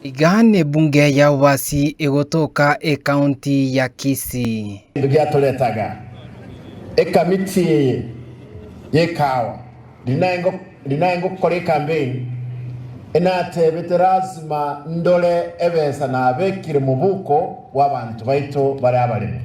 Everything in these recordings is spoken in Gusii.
Iga n'ebunge ya Obasi egotoka ekaunti ya Kisii. Ebinto biatoretaga ekamiti eye yekaao rinae ngokora ekampeini enatebete lasima ndore ebesa nabekire mobuko bw'abanto baito bare abaremu.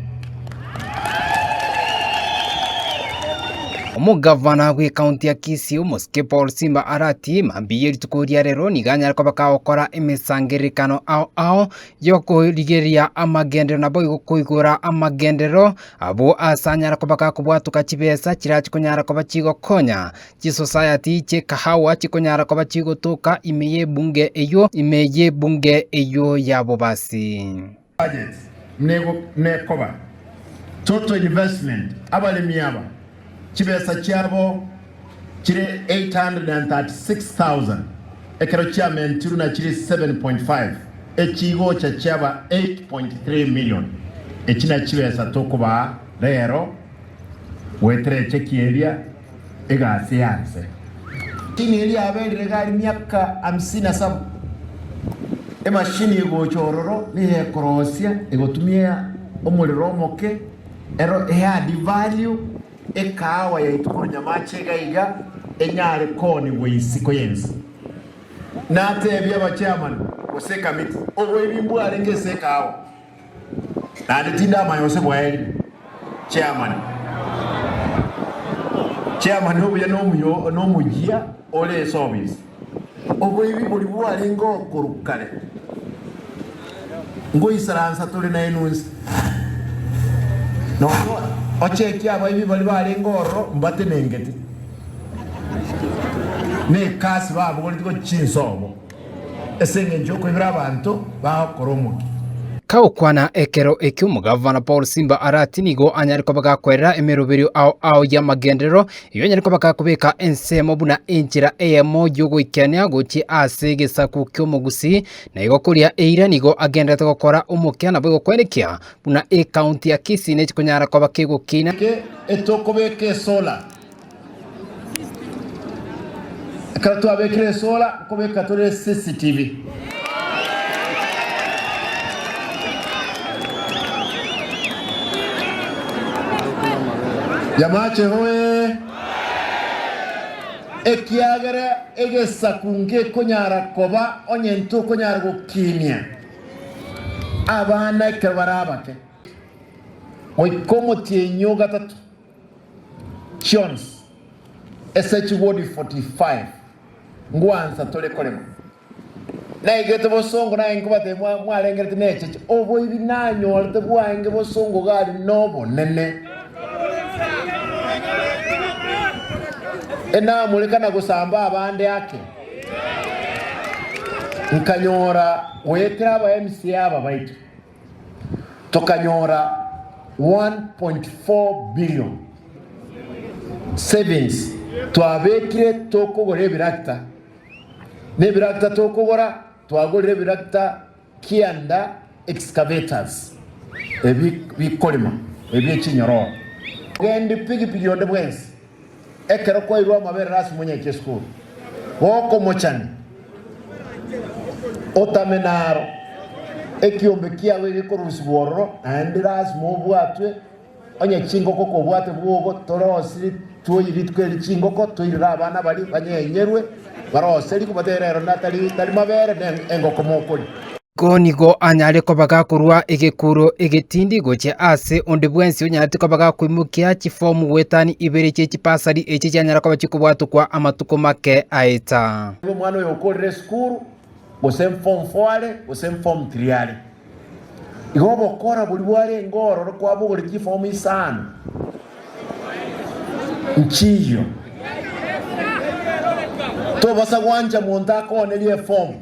Omogavana bw'ekaunti ya Kisii omosike Paul Simba aratie mambia ye rituko ria rero nigo anyare koba kagokora emesangererekano ao ao y'okorigereria amagenderero naboigo koigora amagenderero abwo ase anyare koba gakobwatoka chibesa chirachia konyara koba chigokonya Chisosayati chi'ekahawa chikonyara koba chigotoka ime y'ebunge eyio, ime y'ebunge eyio ya bobasi. Budget nekoba total investment abaremi aba chibesa chiabo chire 836,000 ekero chiamentirwe na chire 7.5 echi igocha chiaba 8.3 million. Echi nachibesa tokobaa rero goetera echekie eria. egasi y'aanse. Tini eria yaberire iga aria miaka amisini na saba, emashini egocha ororo nigo ekorosia egotumia omorero omoke, ero eadd value, ekaawa yaito korwa nyamache iga iga enyare koonigwa isiko y'ense. Natebie aba chairman gose ekamiti, oboibi mbwarenge ase ekaawa. Naende tindamanya gose bwaeri. Chairman, Chairman obuya nomuyo nomoyia ore esofisi. Oboibi bori bwarenge okorwa kare. Ngoisaransa tore naye nonsi. Nonya ochekie abaibi baria barenge ororo mbatenengete. Nekasi babogoreti gochia inse obo. Ase engencho y'okoibera abanto bao koromokia. Kagokwana ekero ekio omogavana Paul Simba are ati nigo anyare koba gakwerera emeroberio ao ao y'amagenderero, erio anyare koba gakobeka ensemo buna enchera eyemo y'ogoikania gochia ase egesaku ki'omogusii, na igo koria eira nigo agendererete gokora omokia nabo egokwenekia buna ecounty ya Kisii nechikonyara koba kegokiina. Geke etokobeka esola. Ekero twabekire esola nkobeka tore CCTV. Yamache hoee! Ekiagera egesaku ngekonyara koba onye ntokonyara gokinia abana ekero bare abake, goika omotienyi o gatato. chionsi ase chigodi 45 ngwansa tore korema. Naigete bosongo naye nkobatebia mwa- mwarengerete necheche oboibi nanyorete bwaenge bosongo gari nobonene. Enamoreka na gosamba abande ake. Nkanyora goetera aba MCA aba baito. tokanyora 1.4 billion savings twabekire tokogora ebirakita. Na ebirakita tokogora twagorire ebirakita kianda excavators ebi bikorema ebie chinyororo. Togende pigipigi onde bwensi. Ekero kwairwe amaberero ase omonyaiki esukuru, gokomochani, otame naro. Ekiombe kiago iga ekorusigwa ororo, naende lasima obwatwe onye chingoko kobwate bwogo, torosiri twoyi rituko eri chingoko, toirere abana baria banyenyerwe, barose riko, batere ero natari mabere, ne engoko mokoria. Iko nigo anyare kobaga korwa egekuro egetindi gochia aase onde bwensi onyanete kobaga koimokia chifomu goetania ibere chie chibasari echi chianyara koba chikobwatokwa amatuko make aeta. Nigo omwana oyo okorire esukuru, gose form four are, gose form three are, igo obokora boria bwarenge ororo kwabogorire chifomu isano nchiiyio, tobaasa gwancha monto akoonerie efomu.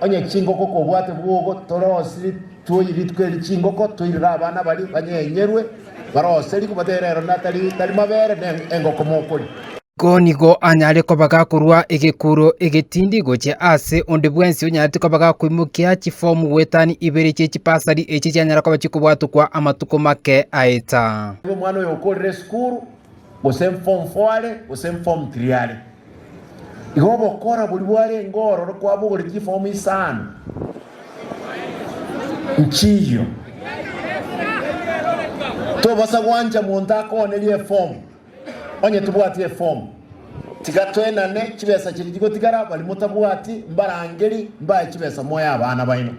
Onye chingoko kobwate bwogo torosiri twoyi rituko eri chingoko toirire abana baria banyenyerwe barose riko batere ero natari tari mabere ne engoko mokoria. Ko nigo anyare kobaga korwa egekuro egetindi gochia ase onde bwensi onyarete kobaga koimokia chifomu gwetani ibere chie chipasari echi chianyara koba chikobwatokwa amatuko make aeta. Omwana oyo okorire esukuru. gose Form Four are, gose Form Three are. Igo ogokora boria bwarenge ororo kwabogorire chiform isano nchiiyio. Tobasa gwancha monto akoonere eform, onye tobwati eform. Tiga toenane chibesa chiria chigotigara, baria motabwati mbarangeri mbae chibesa moe abana baino.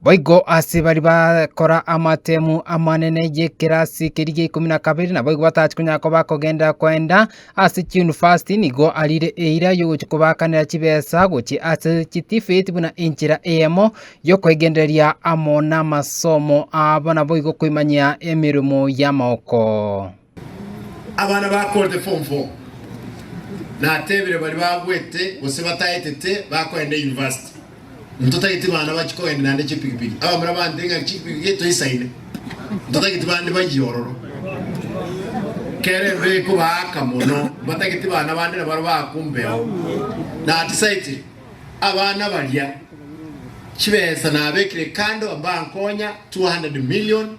Boigo ase baria bagokora amatemu amanene y'ekerasi keria gia ikomi na kabere, naboigo batachi konya koba kogenda goenda ase chiyunivasiti, nigo arire eira y'ogochia kobaakanera chibesa gochia ase chitifeti buna enchera eyemo y'okoegendereria amo namasomo abo, naboigo koimanyia emeremo y'amaoko. Abana bakorete form four natebire baria bagwete gose bataetete bakoenda university ntotageti bana bachi kogenda naende chipikipiki abamura bantire ng'a chipikipiki toisaine ntotageti bande bayie ororo kere embe ekobaaka mono mbatageti bana bande nabaro baaku mbeo natisaetire abana baria chibesa nabekire kando mbankonya 200 million